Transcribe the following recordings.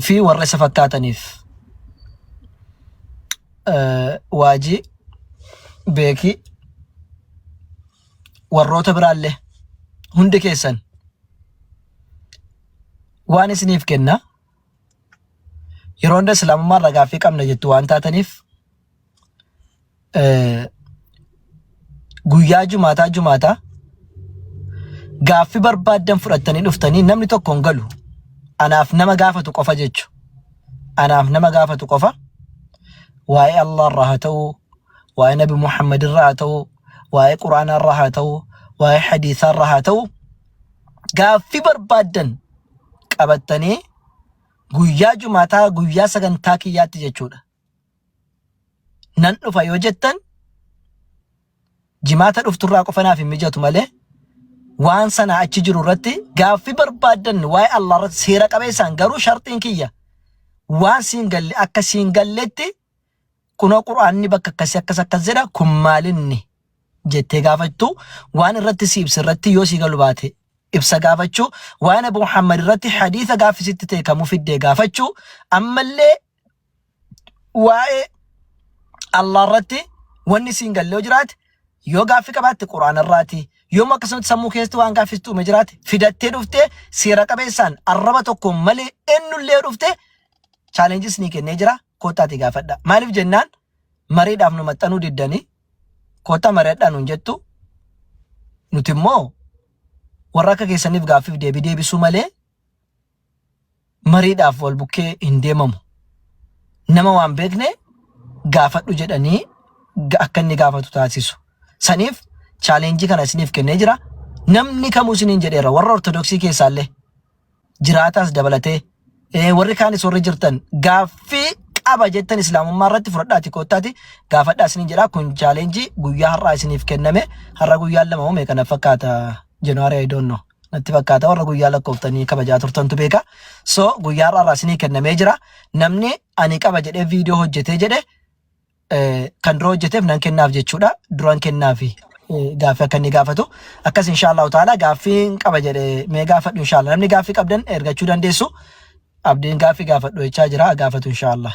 fi warra isa fakkaataniif eh, waajii beekii warroota biraallee hundi keessan waan isiniif kenna yeroo hunda islaamummaa irraa gaaffii qabna jettu waan taataniif guyyaa jumaataa jumaataa gaaffi barbaaddan fudhattanii dhuftanii namni tokko hin galu anaaf nama gaafatu qofa jechu anaaf nama gaafatu qofa waa'ee Allah irraa haa ta'u waa'ee nabi Muhammad irraa haa ta'u waa'ee quraanaa irraa haa ta'u waa'ee hadiisaa irraa haa ta'u gaaffi barbaaddan qabattanii guyyaa jumaataa guyyaa sagantaa kiyyaatti jechuudha nan dhufa yoo jettan jimaata dhufturraa qofa naaf hin mijatu malee waan sana achi jiru irratti gaaffii barbaaddan waa'ee Allah irratti seera qabeessaan garuu sharxiin kiyya waan siin galle akka siin galletti kunoo qur'aanni bakka akkasii akkas akkas jedha kun maalinni jettee gaafachuu waan irratti si ibsa irratti yoo si galu baate ibsa gaafachuu waan abu muhammad irratti hadiisa gaaffisitti ta'e kamuu fiddee gaafachuu ammallee waa'ee Allah irratti wanni siin galle yoo jiraate yoo gaaffii qabaatte quraana irraati yoom akkasumatti sammuu keessatti waan gaaffistu uume jiraate fidattee dhuftee seera qabeessaan arraba tokko malee ennullee dhuftee chaalenjis ni kennee jira koottaati gaafadha maaliif jennaan mariidhaaf nu maxxanuu diddanii koottaa mari'adhaa nuun jettu nuti immoo warra akka keessaniif gaaffiif deebii deebisuu malee mariidhaaf wal bukkee hin deemamu. Nama waan beekne gaafadhu jedhanii ga- akka inni gaafatu taasisu. Saniif chaaleenjii kana isiniif kennee jira. Namni kamuu isiniin jedheera warra ortodoksii keessaallee jiraataas dabalatee eh, warri kaanis warri jirtan gaaffii qaba jettan islaamummaa irratti fudhadhaati koottaati gaafadhaa isiniin jedha kun chaaleenjii guyyaa har'aa isiniif kenname har'a guyyaan lama moo meeqa na fakkaata january i don't know natti fakkaata warra guyyaa lakkooftanii kabajaa turtantu beeka so guyyaa irraa irraa isinii kennamee jira namni ani qaba jedhee viidiyoo hojjetee jedhe eh, kan dura hojjeteef nan kennaaf jechuudha duran kennaafi eh, gaaffii akka inni gaafatu akkas inshaallahu taala gaaffiin qaba jedhe mee gaafadhu inshaallah namni gaaffii qabdan ergachuu dandeessu abdiin gaaffii gaafadhu jechaa jira gaafatu inshaallah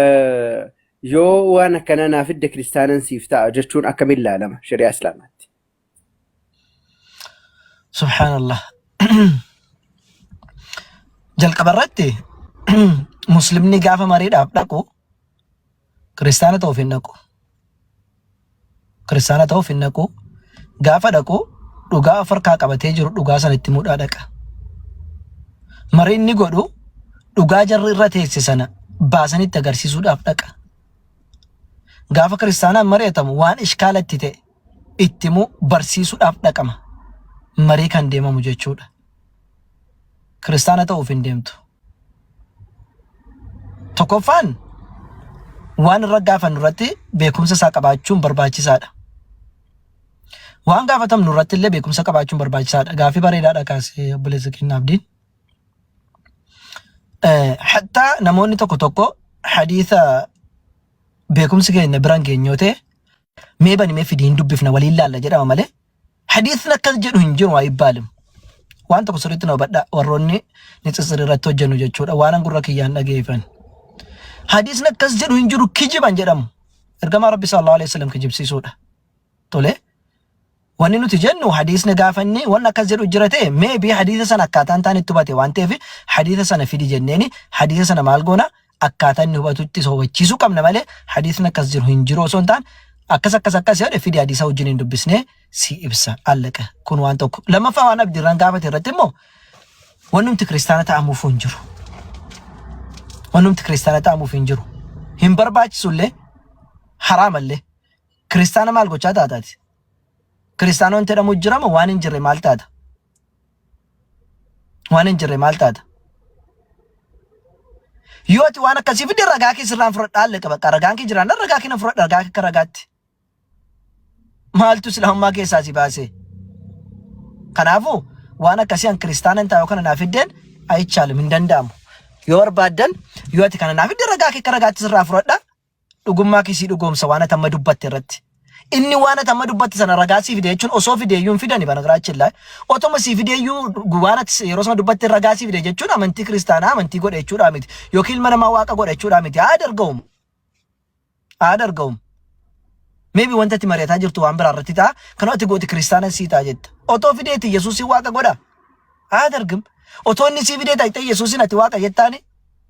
Eh, yoo waan akkanaa naa fidde kiristaanan siif ta'a jechuun akkamiin laalama shari'aa islaamaatti? Subhaanallah. Jalqaba irratti muslimni gaafa mariidhaaf dhaqu kiristaana ta'uuf hin dhaqu. Kiristaana ta'uuf hin dhaqu. Gaafa dhaqu dhugaa of harkaa qabatee jiru dhugaa sana itti muudhaa dhaqa. Mariin ni godhu dhugaa jarri irra teesse sana baasanitti agarsiisuudhaaf dhaqa. Gaafa kiristaanaan mari'atamu waan ishkaala itti ta'e itti immoo barsiisuudhaaf dhaqama. Marii kan deemamu jechuudha. kiristaana ta'uuf hin deemtu. Tokkoffaan waan irra gaafannu irratti beekumsa isaa qabaachuun barbaachisaadha. Waan gaafatamnu irratti illee beekumsa qabaachuun barbaachisaadha. Gaaffii bareedaadha kaasee obboleessa keenya abdiin. Hattaa namoonni tokko tokko hadiisa beekumsi keenya biraan geenyoo ta'e mee bani mee fidi hin dubbifna waliin laalla jedhama malee hadiisni akkas jedhu hin jiru ayibbaalim waan tokko sirriitti na hubadha warroonni nitsitsir irratti hojjennu jechuudha waanan gurra kiyyaan dhageeffan hadiisni akkas jedhu hin jiru kijiban jedhamu ergamaa rabbi sallallahu alaihi wasallam kijibsiisuudha tole Wanni nuti jennu hadiisni gaafa inni wanni akkas jedhu jira ta'e may be hadiisa sana akkaataa hin taane itti hubate waan ta'eef hadiisa sana fidi jenneeni hadiisa sana maal goona akkaataa inni hubatutti isa hubachiisuu qabna malee hadiisni akkas jiru hin jiru osoo hin taane akkas akkas akkas jedhe fidi hadiisa wajjin hin dubbisne si ibsa allaqa kun waan tokko lammaffaa waan abdirraan gaafate irratti immoo wannumti kiristaana ta'amuuf hin jiru wannumti kiristaana ta'amuuf hin jiru hin barbaachisullee haraamallee kiristaana maal gochaa taataati Kiristaana wanti jedhamu jirama waan hin jirre maal taata? Waan hin jirre maal taata? Yoo ati waan akkasii fidde ragaa kee sirraan fudhadhaa allaqa bakka ragaan kee jiraannaan ragaa kee nan fudhadha ragaa kee akka ragaatti. Maaltu islaamummaa keessaa si baasee? Kanaafuu waan akkasii an kiristaana hin taa'u kana naa fiddeen ayichaalim hin danda'amu. Yoo barbaaddan yoo ati kana naa fidde ragaa kee akka ragaatti sirraa fudhadha dhugummaa kee sii dhugoomsa waan ati amma dubbatte irratti. Inni waan ati amma dubbatte sana ragaa sii fide jechuun osoo fide iyyuu hin fidani banagiraachi illaa. Otoma sii fide iyyuu waan ati yeroo sana dubbatte ragaa sii fide jechuun amantii kiristaanaa amantii godhe jechuudhaa miti. Yookiin ilma namaa waaqa godhe jechuudhaa miti. Haa darga'uum. Haa darga'uum. Maybe wanta ati mari'ataa jirtu waan biraa irratti ta'a. Kan ati gooti kiristaana sii ta'a jetta. Otoo fideeti Yesuusiin waaqa godha. Haa dargim. Otoo inni sii fidee ta'e Yesuusiin ati waaqa jettaani.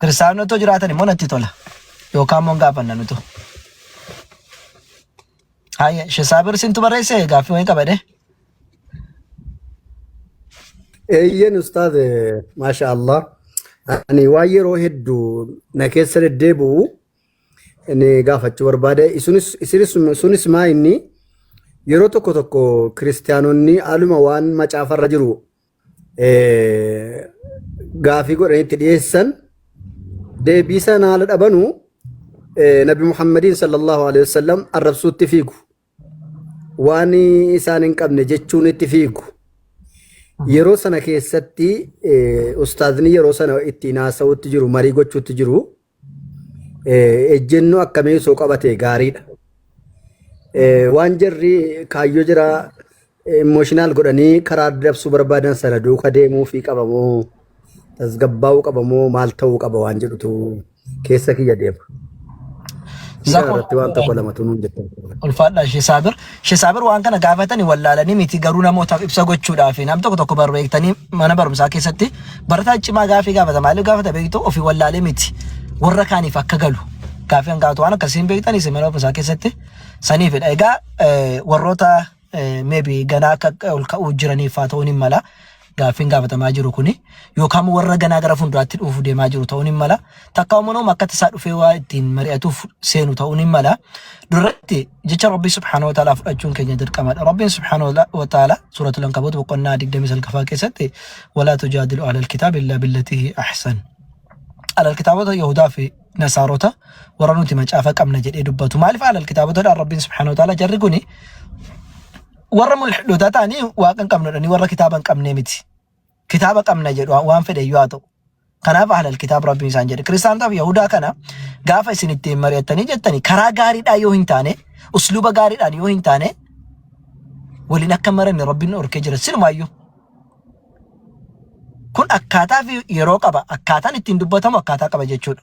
Kiristaanonni otoo jiraatan immoo natti tola. Yookaan immoo hin gaafanna nutu. Haayya, Shesaabir sintu barreesse gaaffii wayii qabadee. Eeyyeen ustaaz maasha Allah. Ani waan yeroo hedduu na keessa deddeebi'u inni gaafachuu barbaade. Isunis isinis sunis maa inni yeroo tokko tokko kiristaanonni haaluma waan macaafarra jiru gaafii godhanitti dhiyeessan deebii sana haala dhabanu nabi muhammadiin sallallahu alaihi wasallam arrabsuutti fiigu waan isaan hin qabne jechuun itti fiigu yeroo sana keessatti ustaazni yeroo sana ittiin haasa'utti jiru marii gochuutti jiru ejjennoo akkamii osoo qabatee gaariidha. Waan jarri kaayyoo jira imooshinaal godhanii karaa dabsuu barbaadan sana duuka deemuu fi qabamoo tasgabbaa'uu qabamoo maal ta'uu qaba waan jedhutu keessa kiyya deema. Jazakumullah Irratti waan tokko lamatu nuun jettan. Ulfaadhaa ishee saabir. She Saabir waan kana gaafatani wallaalanii miti garuu namootaaf ibsa gochuudhaafi nam tokko tokko barru eegtanii mana barumsaa keessatti barataa cimaa gaafii gaafata maaliif gaafata beektu ofii wallaalee miti warra kaaniif akka galu gaafii kan gaafatu waan akkasiin beektanii isin mana barumsaa keessatti saniifidha egaa eh, warroota eh, maybe ganaa akka ol ka'uu jiraniif haa ta'uun hin mala gaaffiin gaafatamaa jiru kuni yookaan warra ganaa gara fuulduraatti dhufuuf deemaa jiru ta'uun hin mala. Takka umanoom akka tasaa dhufee waa ittiin mari'atuuf seenu ta'uun hin mala. Duratti jecha Rabbii subhaanahu wa ta'ala fudhachuun keenya dirqamadha. Rabbiin subhaanahu wa ta'ala suuratul Ankabuut boqonnaa 29ffaa keessatti walaa tujaadilu ahlal kitaab illaa billatihi ahsan. Ahlal kitaabota Yahudaa fi Nasaarota warra nuti macaafa qabna jedhee dubbatu. Maaliif ahlal kitaabota dhaan Rabbiin subhaanahu wa ta'ala jarri kuni warra mulhidootaa ta'anii waaqa hin qabnu jedhanii warra kitaaba hin qabnee miti. Kitaaba qabna jedhu waan fedhe iyyuu haa ta'u. Kanaaf ahlal kitaab rabbiin isaan jedhe. Kiristaanotaaf Yahudaa kana gaafa isin ittiin mari'attanii jettanii karaa gaariidhaa yoo hin taane, usluuba gaariidhaan yoo hin taane waliin akka maranne rabbiin orkee jira silumaayyuu. Kun akkaataa fi yeroo qaba. Akkaataan ittiin dubbatamu akkaataa qaba jechuudha.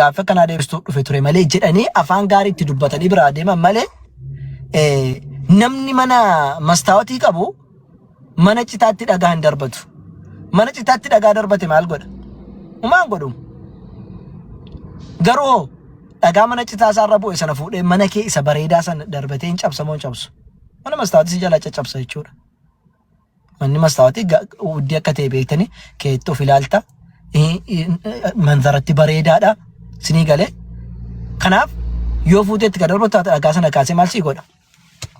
gaaffii akkanaa deebistuu dhufe ture malee jedhanii afaan gaarii itti dubbatanii biraa deeman malee eh, namni mana mastaawatii qabu mana citaatti dhagaa hin darbatu. Mana citaatti dhagaa darbate maal godha? Umaan godhu. Garuu hoo dhagaa mana citaa isaarra bu'e sana fuudhee mana kee isa bareedaa sana darbatee hin cabsamoo hin cabsu. Mana mastaawatii si jalaa caccabsa jechuudha. Manni mastaawati uddii akka ta'e beektanii keetti of ilaalta. Manzaratti bareedaadha. Sinii galee. Kanaaf yoo fuuteetti kan darbu taate dhagaa sana kaasee maal sii godha?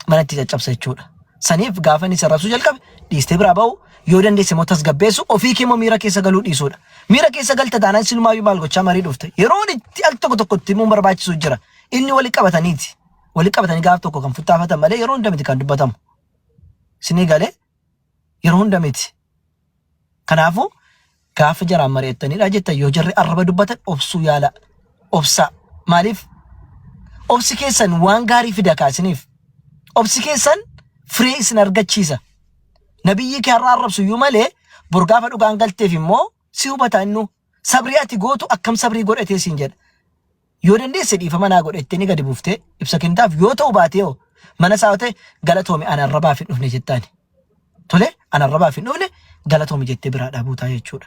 Mana itti caccabsa jechuudha. Saniif gaafa inni sarrabsuu jalqabe dhiistee biraa ba'u yoo dandeesse immoo tasgabbeessu ofii kee immoo miira keessa galuu dhiisuudha. Miira keessa galta taanaan sinumaayyu maal gochaa marii dhufte. Yeroon itti al tokko tokko itti himuun barbaachisu jira. Inni wali qabataniiti. Wali qabatanii gaaf tokko kan futtaafatan malee yeroo hunda miti kan dubbatamu. Isinii galee yeroo hunda miti. Kanaafuu gaafa jaraan mari'attanidha jettan yoo jarri arraba dubbatan obsuu yaala. Obsaa. Maaliif? Obsi keessan waan gaarii fida kaa isiniif. Obsi keessan firee isin argachiisa. Nabiyyii kee har'a arrabsu iyyuu malee bor gaafa dhugaan galteef immoo si hubata innuu. Sabrii ati gootu akkam sabrii godhatee siin jedha. Yoo dandeesse dhiifama naa godha jettee ni gadi buuftee ibsa kennitaaf yoo ta'u baatee hoo mana isaa yoo ta'e galatoomi an arrabaaf hin dhufne jettaani. Tole an arrabaaf hin dhufne galatoomi jettee biraa dhaabuutaa jechuudha.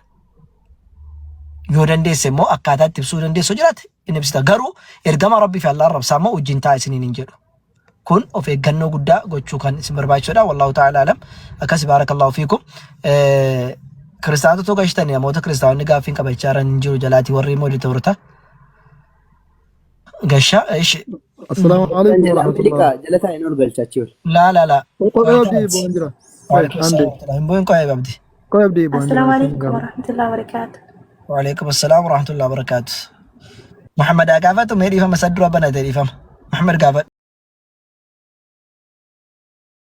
Yoo dandeesse immoo akkaataa itti ibsuu dandeessu jiraate hin ibsita garuu ergama rabbii fi allaa arrabsaa immoo wajjin taa isiniin hin jedhu. kun of eeggannoo guddaa gochuu kan isin barbaachisudha wallahu ta'ala alam akkas baarakallahu fiikum kiristaanotatu gashtan namoota kiristaanonni gaaffiin qabachaa jiran hin jiru jalaatii warri immoo editoorota gasha ishi Assalaamu Kan alaikum jala warahmatullahi Ameerikaa jala taa'een ol galchaachii ol. laa laa laa Kophee hojii bu'aan jira. Waalaikum Andee. salaam. Hin bu'in qo'ee qabdi. Koo abdii boondii Assalamu waliin alaikum gahu. warahmatullahi wabarakatuh. Waalaikum assalam warahmatullahi wabarakatuh. Muhammad haa gaafatu mee dhiifama isa dura banate dhiifama. Muhammad gaafadhu.